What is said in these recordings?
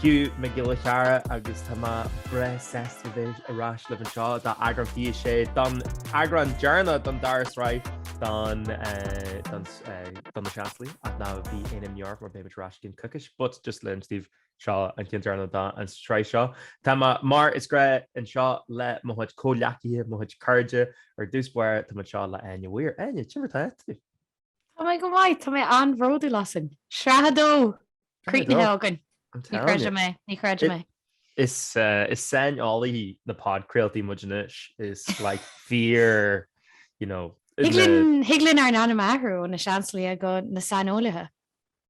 Hugh Mac Giolla Chearra agus tá mé breá sásta bheith ar ais libh anseo d'eagrán fiche a sé don eagrán deireanach don dara sraith do na Seansálaithe ach ná bíodh imní ort mar beimid ar ais i gcionn coicís but just le hinse daoibh seo an ceann deireanach don sraith seo. Tá mé mar is gnách anseo le mo chuid comhghleacaithe, mo chuid cairde, ar dtús báire tá muid anseo le Áine Weir. Áine, cad é mar atá tú? Tá mé go maith, tá mé an-bhródúil asainn. Sraith 2! Críochnaithe againn. Ní chreidim é, ní chreidim é. Is saineolaithe na bpodchraoltaí muid anois, is like fíor, you know. Thig linn ár n-ainm a athrú ó na Seansálaithe go na saineolaithe.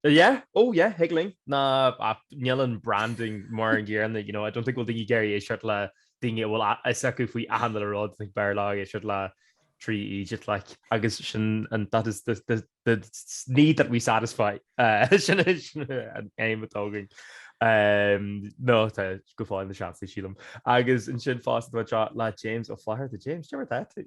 Yeah, oh yeah, thig linn. Ná ach níl an branding mar an gcéanna, you know, I don't think bhfuil daoine ag iarraidh éisteacht le daoine a bhfuil a fhios acu faoi achan uile rud, like b'fhearr leo éisteacht le trí eejit, like. Agus sin an that is the the the s- need that we satisfy, eh, sin is an aidhm atá againn. Eh, nó tá, go fóill na Seansálaithe sílim. Agus ansin fosta tá muid anseo le James Ó Flatharta. James, cad é mar atá tú?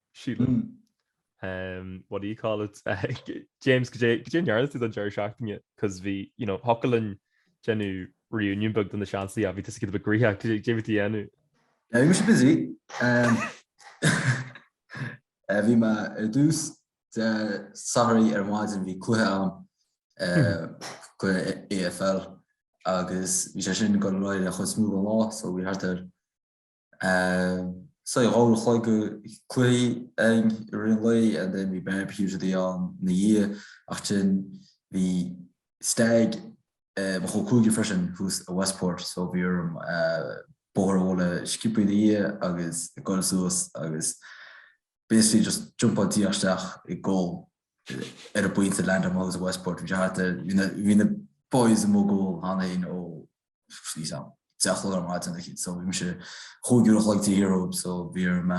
Síle, what do you call it? James, cad é cad é a ndearna tú don deireadh seachtaine? Cos bhí, you know, thiocfadh linn déanamh reunion beag do na Seansálaithe ach bhí tusa giota beag gnoitheach, cad é cad é a bhí tú a dhéanamh? Eh, bhí mise busy. Eh, bhí mé ar dtús Dé Sathairn ar maidin bhí cluiche ann, eh, cluiche AFL agus bhí sé sin ag goil ar aghaidh an chuid is mó den lá so bhí thart ar sé uair an chloig cluichí againn i rith an lae and then bhí barbecue againn ina dhiaidh ach ansin bhí Stag mo chol cúigir freisin thuas i Westport so bhí orm bóthar a bhualadh sciobtha ina dhiaidh agus goil suas agus basically just jumpáil díreach isteach ag ól ar an bpointe a landáil mé suas i Westport bhí sé thart air bhí na bhí na boys amuigh ag ól cheana féin ó deich a chlog ar maidin so bhí mise chúig uair a chloig taobh thiar dhóibh so bhí orm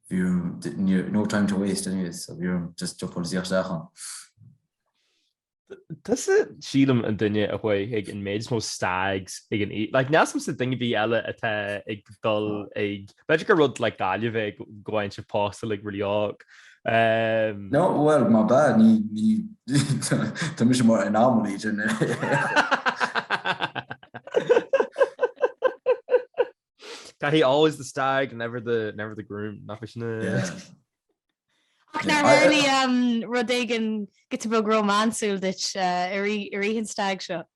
bhí orm no time to waste anyway so bhí orm just jumpáil díreach isteach ann. Tusa sílim an duine a bhí ag an méid is mó stags ag an like níl a fhios agamsa duine ar bith eile atá ag dul ag B'fhéidir gur rud like Gaillimh é go bhfaigheann siad pósta like really óg. Um... No, well, maybe, ní, ní, tá mise mar anomaly then. Tá always the stag, never the, never the groom, nach in é... Yeah. Ach nár tharla um, rud éigin giota beag rómánsúil duit uh, i rith an stag seo?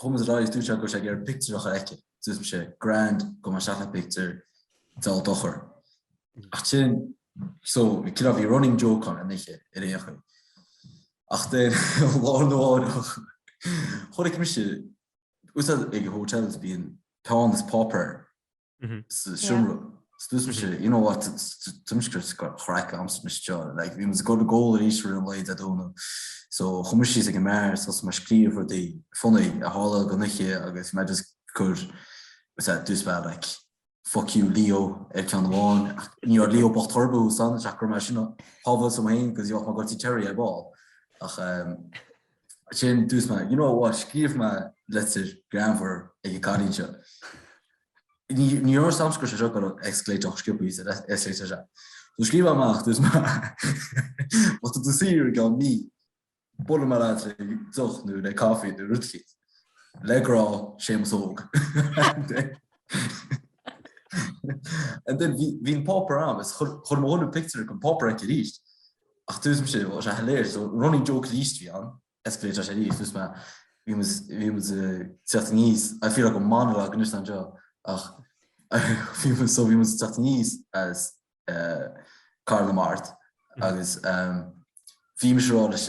Chumas a rá is dúirt sé go raibh sé ag iarraidh pictiúr a chur aici. Dúirt sé, grand, go mbeidh seacht pictiúr dá dochar. Ach sin, so, like, you know, bhí running joke ann anois ar aon chaoi. Ach then, lá arna mháireach, chonaic mise, tá a fhios agat ag hotels, bíonn peann is páipéar seomra scriosadh sé you know what tuimsceart chraic amsa mise seo like bhí muid ag gabháil ag ól arís i rith an lae Dé Domhnaigh so chuaigh mé síos ag an mbeár so mé ag scríobh rudaí funny a tharla an oíche agus mé just ag cur what's that dús bad like fuck you Leo ar ceann amháin ach ní raibh Leo bocht thorbú san ach gur mar sin pábhailt am fhéin agus gheobhadh mé goiltí cherry ar ball ach ehm Sin dúirt mé. You know what, scríobhfaidh mé litir greannmhar ag an gcailín seo. Ní dheoir samscris seo go escalate-áil chomh sciobtha is a escalate-áil seo. So scríobh mé amach, dúirt mé. Má tá tú saor ag an mí, buailfidh mé leat le deoch nó le caife nó rud eicínt. Le grá, Séamus Óg. And then bhí an páipéar ann, is chuir mo dhuine pictiúr den bpáipéar aici arís. Ach dúirt mise, bhuel, is ea, léir, so running joke arís a bhí ann, escalate-áil sé arís, dúirt mé, bhí muid eh, teacht níos, I feel like a monologue anseo, ach bhí muid, so bhí muid teacht aníos as eh, Cathair na Mart, mm-hmm. agus um, bhí mise ag rá leis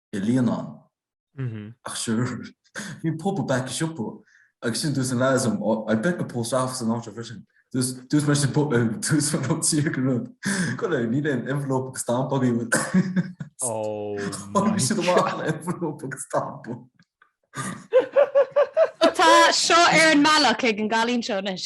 i Líonán. Ach sure, bhí pub i back an siopa agus sin dúirt an leaid liom, oh, I bet the post office na háite freisin. Dúirt mé sin, dúirt mé rud siar go rud. Go leor, níl aon envelope agus stamp agaibh. Oh my god. Tháinig siad amach le envelope agus stamp. Tá seo ar an mbealach ag an gcailín seo anois.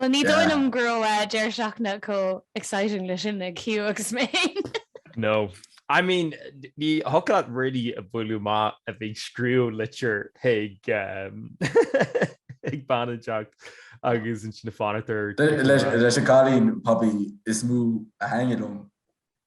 Bhuel, ní dóigh liom go raibh deireadh seachtaine chomh exciting le sin ag Hugh agus mé féin. No. I mean, ní thiocfadh leat really a bhualadh amach a bheith ag scríobh litir chuig ag bean inteacht agus ansin ag fanacht ar. Leis an gcailín probably is mó a tháinig liom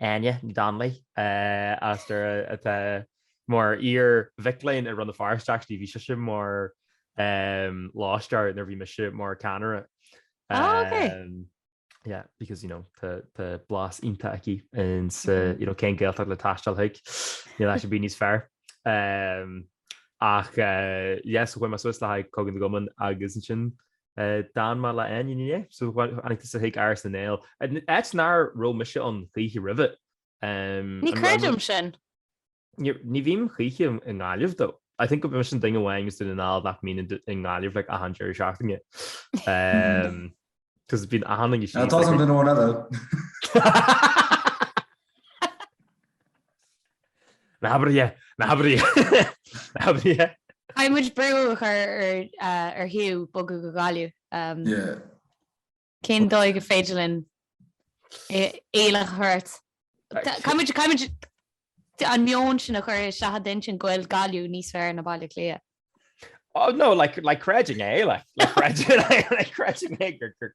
Áine Ní Dhonnghaile, as Doire, atá mar iarmhac léinn i Rann na Feirste actually, bhí sise mar lóistéir nuair a bhí mise mar ceannaire. Ah ok. Yeah, because you know tá blas iontach aici ansin you know cén Gaeltacht le taisteal chuig níl áit ar bith níos fearr. Um, ach uh, yes, chuaigh mé suas le haghaidh Cogadh na gCumann agus ansin D'fhan mé le Áine inné, so tháinig tusa chuig Áras na nGael, áit nár raibh mise ann choíche roimhe. Ní creidim sin. Ní bhím choíche i nGaillimh though. I think go bhfuil mise an duine amháin as Dún na nGall nach mbíonn i nGaillimh like achan deireadh seachtaine. Cos bíonn achan duine síos. Tá an duine amháin eile. Ná habair é! Caithfidh muid brú a chur ar Hugh bogadh go Gaillimh. Cén dóigh gur féidir linn iallach a chur ort? Caithfidh muid an meon sin a chur isteach i d'inchinn go bhfuil Gaillimh níos fearr ná Baile Átha Cliath. Oh no, like, like creideann mé, like, like creideann mé gur,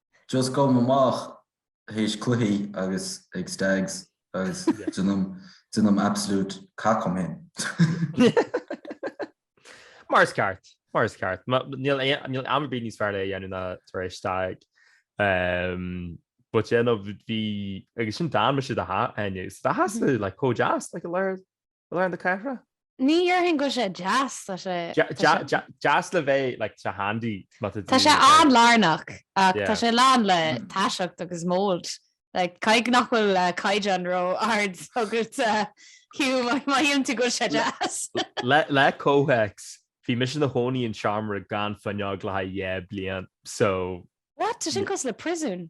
Just gabhaim amach théis cluichí agus ag stags agus déanaim absolute cac dom féin. Mar is ceart, mar is ceart. Níl am ar bith níos fearr le dhéanamh ná tar éis stag. But yeah no bhí, agus ansin d'fhan mise i do theach inné, so do theachsa like chomh deas like i lár Lár na cathrach? Ní dhéarfainn go bhfuil sé deas, tá sé. Deas le bheith, like, tá sé handy. Tá sé an-lárnach, ach tá sé lán le taiseacht agus mold. Like, caithfidh nach bhfuil caighdeán ró-ard agat Hugh má shíleann tú go bhfuil sé deas. Le comhthéacs, bhí mise ina chónaí in seomra gan fuinneog le haghaidh dhá bliain, so. What? Tá sin cosúil le príosún.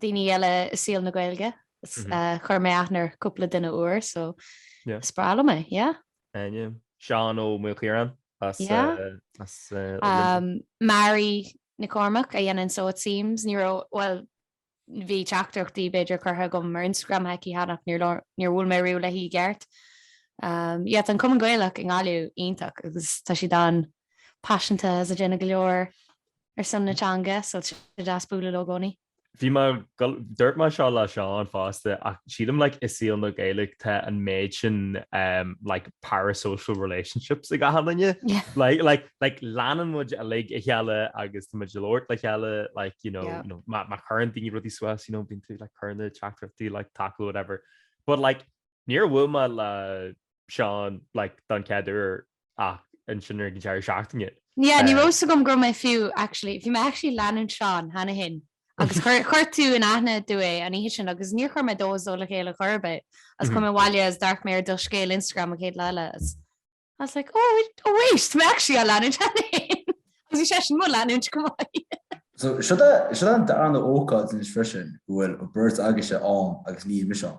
daoine eile i saol na Gaeilge. Chuir mé aithne ar cúpla duine úr so is breá liom é, yeah. Áine, Seán Ó Maolchiaráin as Luimneach. Mary Nic Chormaic a dhéanann Sew It Seams, ní raibh, bhuel bhí teachtaireachtaí b'fhéidir curtha agam ar Instagram chuici cheana ach níor bhuail mé riamh léi i gceart. Yeah tá an Cumann Gaelach i nGaillimh iontach agus tá siad an-paiseanta agus ag déanamh go leor ar son na teanga, so is deas bualadh leo i gcónaí. Bhí mé, dúirt mé seo le Seán fosta ach sílim like i saol na Gaeilge tá an méid sin like parasocial relationships ag achan duine like like leanann muid uilig a chéile agus tá muid ag labhairt le chéile like you know you know má chuireann daoine rudaí suas you know bíonn tú like cuireann tú teachtaireachtaí like tacú whatever but like níor bhuail mé le Seán like don chéad uair ach ansin ar an deireadh seachtaine. Yeah ní raibh fhios agam go raibh mé fiú actually. Bhí mé actually ag leanúint Seán cheana fhéin agus chuir chuir tú in aithne dom é an oíche sin agus níor chuir mé dó is dó le chéile chor ar bith agus chuaigh mé abhaile agus d'amharc mé ar do scéal Instagram an chéad lá eile agus I was like oh oh wait tá mé actually á leanúint cheana fhéin agus bhí seisean mo leanúint chomh maith. So seo seo an darna ócáid anois freisin go bhfuil an beirt agaibhse ann agus níl mise ann.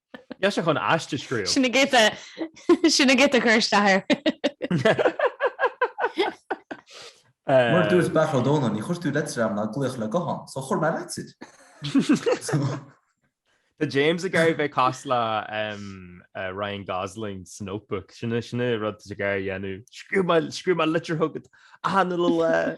Bhí sé chun aiste a scríobh. Sin é, goitse, goitse, cuir isteach air. Mar dúirt sé b'fhéidir, Dónall, níor chuir tú litir chugam ná glaoch le guthán, so chuir mé litir. Tá James ag iarraidh bheith cosúil le Ryan Gosling sa Notebook. Sin sin an rud ag iarraidh dhéanamh. Scríobh scríobh mé litir chugat achan lá.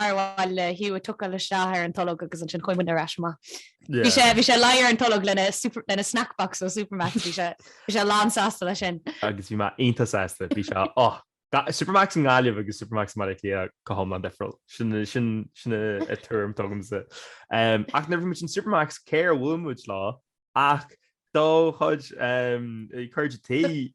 Ar mhaith le Hugh a thiocfadh isteach ar an tolg agus ansin chuaigh muidne ar ais amach. Bhí sé, bhí sé leagtha ar an tolg lena super, lena snack box ó Supermac's, bhí sé, bhí sé lán sásta leis sin. Agus bhí mé iontach sásta, bhí sé, oh, ga, Supermac's i nGaillimh agus Supermac's i mBaile Átha Cliath go hiomlán difriúil, sin, sin, sin an tuairim atá agamsa. Em, ach nuair a bhí muid in Supermac's, cé ar bhuail muid leo ach do chuid, em, cairde,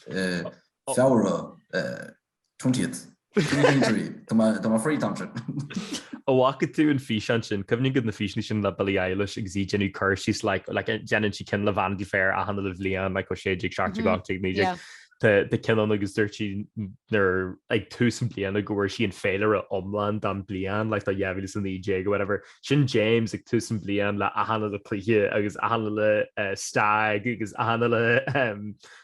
Feabhra, 20th. Tá mé free. Tá am. An bhfaca tú an físeán sin, cuimhin agat na físeanna sin le Billie Eilish agus í ag déanamh cur síos like like déanann sí ceann le Vanity Fair achan uile bhliain like ó 16 17 18 19 tá ceann ann agus dúirt sí nuair ag tús an bliana go bhfuair sí an féilire iomlán don bliain like do 2019 or whatever. Sin James ag tús an bhliain le a shannadh le cluiche agus a shannadh le stag agus a shannadh le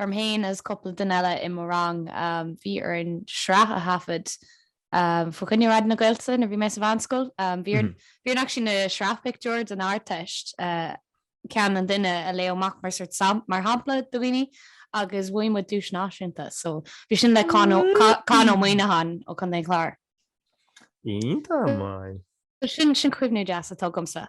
orm féin agus cúpla duine eile i mo rang, bhí orainn sraith a thaifead faoi choinne Raidió na Gaeltachta nuair a bhí mé sa mheánscoil. Bhí orainn actually na sraithphictiúir don Ardteist, ceann an duine a léadh amach mar sórt sam, mar shampla do dhaoine agus bhain muid duais náisiúnta so bhí sin le Con Ó, Con Ó Muíneacháin ó Chontae an Chláir. Iontach maith. So sin, sin cuimhne deas atá agamsa.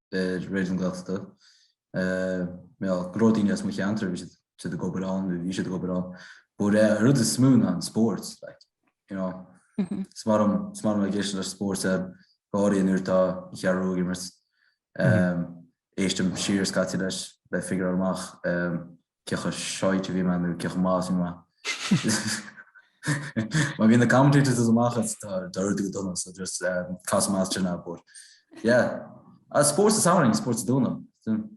Raidió na Gaeltachta. Go leor daoine as mo cheantar, bhí siad ag obair ann, bhí siad ag obair ann. But an rud is mó ná an sports. Mm-hmm. Is maith liom na sports go háirithe nuair atá an Cheathrú Rua ag imirt. Mm-hmm. Éistim siar scaití leis le figure amach. Cé chomh shite a bhí mé nó cé chomh maith a bhí mé. Má bhíonn na commentators amach is tá sé ag éirí go dona so just casadh mé as sin a but yeah. Ah spórt is amhrain, spórt is dúnadh.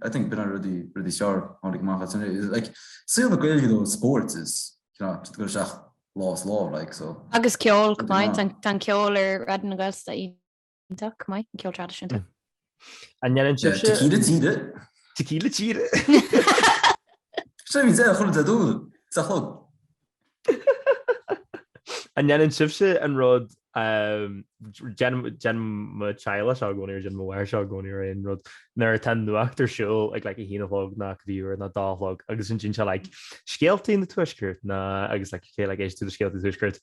I think b'in an rud is fearr a tháinig amach as sin. Like saol na Gaeilge though is spórt is you know tá tú ag dul isteach lá is lá like so. Agus ceol go maith, tá an ceol ar Raidió na Gaeltachta. Iontach maith, an ceol traidisiúnta. An ndéanann sibhse. Tequila tíre? Tequila tíre? Seo óna haon déag chun a dó a chlog. An ndéanann sibhse an rud déanann mo theaghlach seo i gcónaí nó déanann mo mháthair seo i gcónaí ar aon rud nuair atá nuacht ar siúl ag like, a haon a chlog nó cibé uair nó dó a chlog agus sin sin seo like, scéaltaí an Tuaiscirt ná agus like, cé like, éist tú do scéaltaí Tuaiscirt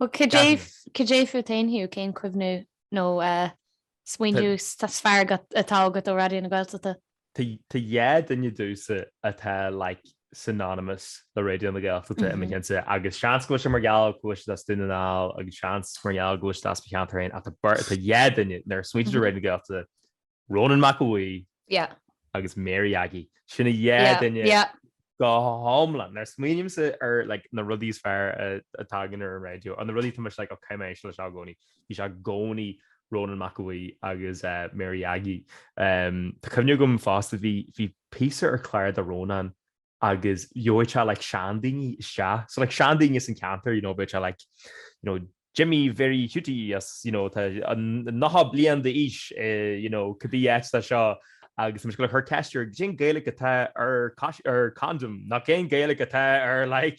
Bhuel, caidé fút féin Hugh, cén cuimhniú nó eh, smaointiú atá is fearr agat- atá agat ó Raidió na Gaeltachta? Tá tá dhá duine domhsa atá like synonymous le Raidió na Gaeltachta i mo Mhm. cheantar agus seans go bhfuil sé mar gheall go bhfuil siad as Dún na nGall agus seans mar gheall go bhfuil siad as mo cheantar féin ach tá beirt- tá dhá duine nuair a smaointear do Mhm. Raidió na Gaeltachta Rónán Mac Aodha Bhuí Yeah. agus Mary Aggie. Sin a dhá Yeah, duine yeah. go hiomlán. Now, smaoinímse ar like, na rudaí is fearr a a tagann ar an raidió, an na rudaí tá mise like, oh, caithfidh mé éisteacht le seo i gcónaí? Bhí sé i gcónaí Rónán Mac Aodha Bhuí agus eh, Mary Aggie. Em, tá cuimhne agam fosta, bhí, bhí píosa ar chlár do Rónán agus gheobhadh sé like seandaoine isteach. So like seandaoine as an ceantar, you know, bheadh sé like, you know, Jimmy Mháire Hiúdaí as, you know, tá nócha bliain d'aois, eh, you know, cibé áit atá seo. Agus tá muid ag cur ceist air, cén Gaeilge atá ar cais- ar condom? Nó cén Gaeilge atá ar like,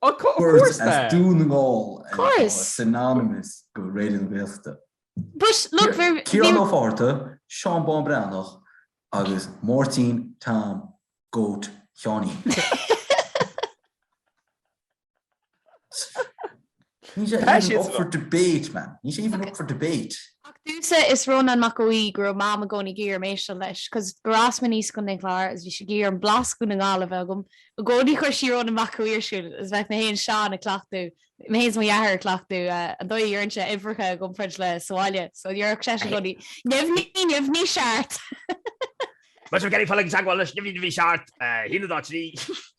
Course as Dún na nGall atá synonymous go Raidió na Gaeltachta. Ciarán Ó Fátharta, Seán Bán Breathnach agus Máirtín Tom Goat Sheáinín. Níl sé Tá even siad up san for áit. debate, man. Níl sé even up for debate. Ach domhsa, is Rónán Mac Aodha Bhuí go raibh Mam i gcónaí ag iarraidh dom éisteacht leis, cos gur fhás mé aníos i gContae an Chláir agus bhí sí ag iarraidh an blas Dhún na nGall a bheith agam i gcónaí. Chuir sí Rónán Mac Aodha Bhuí ar siúl agus bheadh mé fhéin is Seán ag cleachtadh, mé fhéin is mo dheartháir ag cleachtadh an dóigh a dheireann sé uimhreacha i gcomparáid le sa bhaile. So dhéarfadh seisean i gcónaí, neamhní, neamhní seacht! Más ag iarraidh dul i dteagmháil leis neamhní, neamhní seart? Shíneadh dá trí.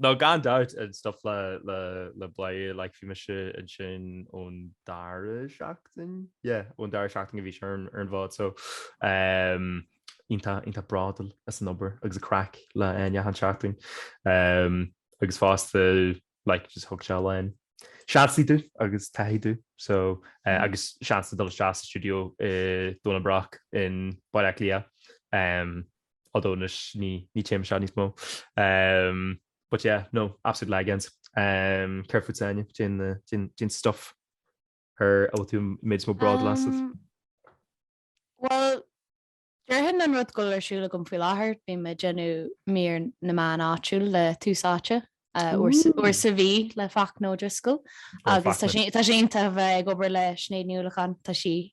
No gan dabht an stuif le Bladhaire like bhí mise ansin ón dara seachtain? Yeah ón dara seachtain a bhí sé ar an bhád so ehm iontach iontach bródúil as an obair agus an craic le Áine achan seachtain ehm agus fosta like just thug sé a lán seansaí domh agus taithí domh so eh agus seans le dul isteach sa stiúideo i Domhnach Broc in Baile Átha Cliath ehm although anois ní téim isteach níos mó ehm but yeah no absolute legends ehm céard fútsa Áine cén stuff ar a bhfuil tú méid is mó bródúil as? Bhuel déarfainn an rud go bhfuil ar siúl agam faoi láthair bím ag déanamh Mír na Meán Áitiúil le Tús Áite uair sa mhí le Fachtna Ó Drisceoil agus tá sé iontach a bheith ag obair le Sinéad Ní Uallacháin tá sí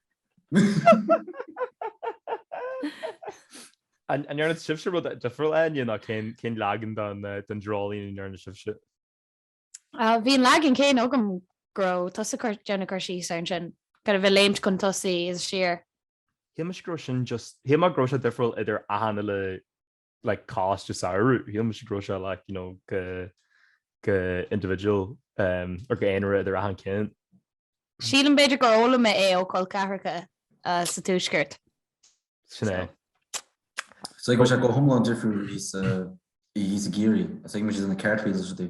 An ndearna sibhse rud difriúil Áine nó cén leagan don dreoilín a ndearna sibhse? Bhí an leagan céanna agam go raibh tusa déanamh cur síos air ansin, kind of a bheith léimt chun tosaigh is siar. Shíl mise go raibh sin just, shíl mé go raibh sé difriúil idir aithne le like cás de samhradh shíl mise go raibh sé like you know go go individual um, ar go aonaire idir achan ceann. Sílim b'fhéidir gur chuala mé é ó col ceathracha uh, sa Tuaisceart. Sin é. So tá sé go hiomlán difriúil thíos, thíos i gCiarraí, as ag mu na cartwheels sa tí.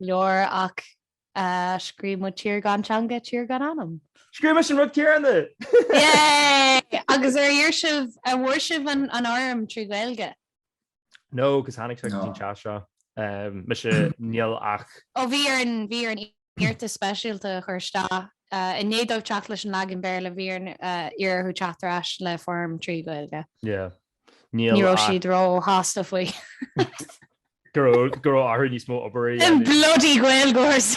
leor ach scríobh muid tír gan teanga, tír gan anam. Scríobh muid an rud céanna! Yay! Agus ar iarr sibh, an bhfuair sibh an fhoirm trí Ghaeilge? No, cos tháinig sé go dtí an teach seo. Mise, níl ach. Ó bhí orainn, bhí orainn iarratas speisialta a chur isteach, i ndiaidh dóibh teacht leis an leagan Béarla, bhí orainn iarraidh orthu teacht ar ais le foirm trí Ghaeilge. Yeah. Ní raibh siad ró-shásta faoi. go raibh go raibh orthu níos mó obair a dhéanamh. Bloody Gaeilgeoirs!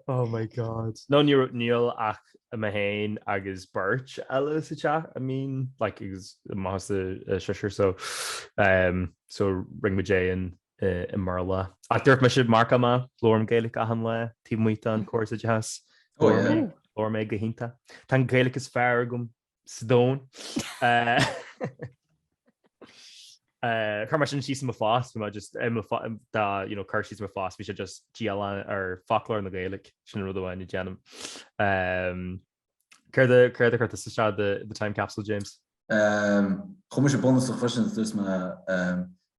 Oh my God. No, níor níl ach mé féin agus beirt eile sa teach, I mean, like, agus maitheas a, a seisear, so, um, so rinne muid é in i mBéarla. Ach dúirt mise, mharcáil mé, labhraím Gaeilic achan lá taobh amuigh den chóras oideachais. Labhraím é go hiontach. Tá an Ghaeilic is fearr agam sa domhan. Chuir mé sin síos i mo phost, bhí mé just, an cur síos ar mo phost, bhí sé just dialann ar foclóir na Gaeilge, sin an rud amháin a déanaim. Céard a chuir tú isteach do The Time Capsule, James? Chuir mise bunús ar chloisint, dúirt mé,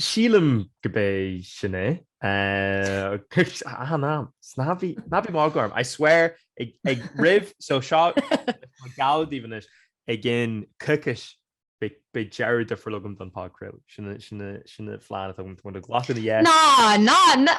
Sílim gurb é sin é. Aha, ná bí ag magadh orm, I swear, ag roimh, so seo, geallaim daoibh anois, i gcionn coicís beidh deireadh difriúil agam don podchraoladh. Sin an plean atá agam, tá muid ag glacadh na. Ná, ná, ná!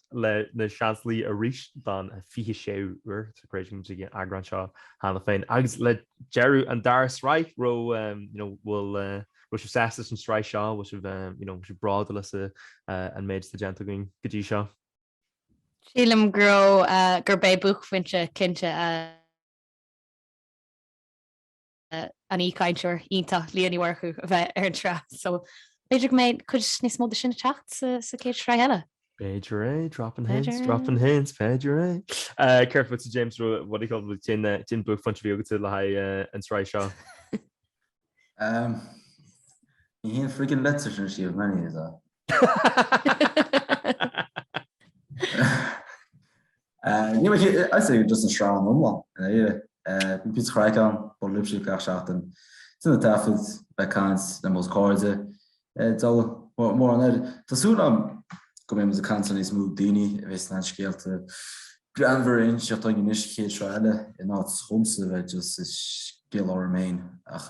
le na Seansálaithe arís don 26ú uair, is dochreidte muid ag an eagrán seo cheana féin. Agus le deireadh an dara sraith, bhfuil sibh sásta leis an sraith seo? Bhfuil sibh bródúil as an méid atá déanta againn go dtí seo? Sílim go raibh, gurb é buaicphointe cinnte a. an aoichainteoir iontach Liadh Ní Mhurchú a bheith ar an tsraith so b'fhéidir go mbeidh cuid níos mó de sin ag teacht sa chéad sraith eile. B'fhéidir é, dropping hints, dropping hints, b'fhéidir é. Céard fútsa James Rua, what do you call it, cén buaicphointe a bhí agatsa le haghaidh an tsraith seo? Ní haon friggin' leid é sin a Síomh, many is a. Ní mé as é just an sreang iomlán in Éire. Bhí píosa chraic ann, bun libhse gach seachtain. Sin an taifead le caint le mo chairde d'fhoghlaim mórán air. Tá súil agam go mbeidh muid ag caint le níos mó daoine a bheidh sna scéalta greannmhara inseacht againn anois, chéad sraith eile in áit dhomsa bheith just ag scéal orm féin ach.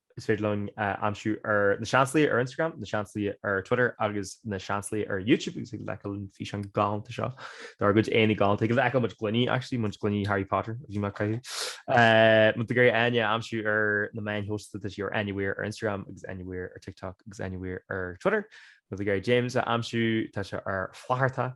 Is féidir linn a aimsiú ar na seansluaigh ar Instagram, na seansluaigh ar Twitter agus na seansluaigh ar YouTube agus ag leithcheal an físeán galánta seo dár gcuid éanaí galánta. Ag leithcheal muid gloiní actually, muid gloiní Harry Potter a bhí mé ag caitheamh. Má tá tú ag iarraidh Áine a aimsiú ar na meáin shóisialta tá sí ar Áine Weir ar Instagram agus Áine Weir ar TikTok agus Áine Weir ar Twitter. Má tá tú ag iarraidh James a aimsiú tá sé ar Flaithearta